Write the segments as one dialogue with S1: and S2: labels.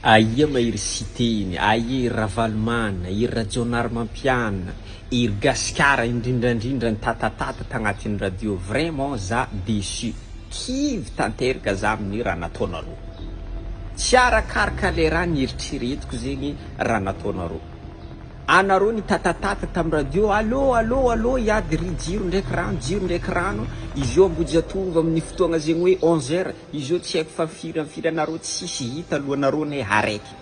S1: Aia ma iry Siteny, aia iry Ravalomanana, iry Rajaonarimampianina, iry Gasikara indrindrandrindra ny tatatat tagnatin'ny radio, vraiment za deçu, kivy tanterka za amin'ny raha nataonareo. Tsy arakaraka le raha nieritreretiko zegny raha nataonareo. Anareo nitatatat tam radio, allo, allo, allo hiady ry jiro ndraiky rano, jiro ndraiky rano, izy io Ambohijatovo amin'ny fotoagna zegny hoe onze heure, Izao tsy haiko fa firy am firy anareo tsisy hita lohanareo ne haraiky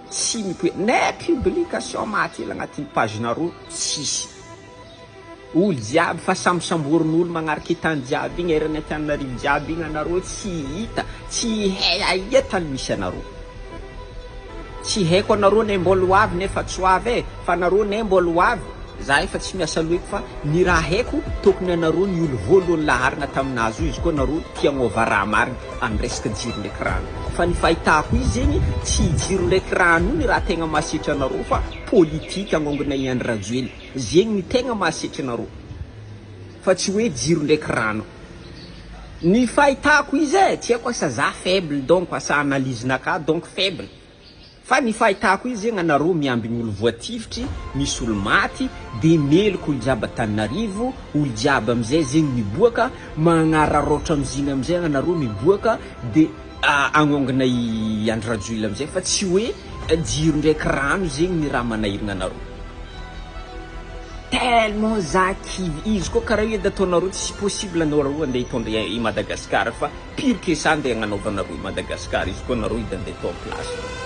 S1: tsy mipoe ne publication maty ela agnatin'ny page nareo tsisy olo jiaby fa samy samborin'olo magnarike tany jiaby igny eran'ny Antananarivo jiaby igny anareo tsy hita tsy hay aia tany misy anareo. Tsy haiko anareo ne mbol ho avy nefa tsy ho avy e! Fa nareo ne mbol ho avy, za efa tsy miasa loiko fa ny raha haiko tokony anareo ny olo voaloany laharana tamin nahazo izy koa nareo tia agnova raha marigny any resaka jiro ndraiky rano fa ny fahitako izy zegny tsy i jiro ndraiky rano io ny raha tegna mahasetra anareo fa politique agnongona i Andry Rajoely zegny ny tegna mahasetra anareo fa tsy hoe jiro ndraiky rano. Ny fahitako izy e, tsy haiko asa za faible donc asa analyse naka donc faible, fa ny fahitako izy zegny anareo miambigny olo voatifitry, misy olo maty, de meloky olo jiaby Antananarivo, olo jiaby amizay zegny miboaka magnararaotra amizigny amizay anareo miboaka de. Agnongona i Andry Rajoila amizay fa tsy hoe jiro ndraiky rano zegny ny raha manahirigna anareo. Tellement za kivy, izy koa karaha io edy ataonareo tsy possible anareo andeha hitondra i Madagascar fa pire que ça andeha agnanaovanareo i Madagascar izy koa anareo edy andeha atao am place nareo.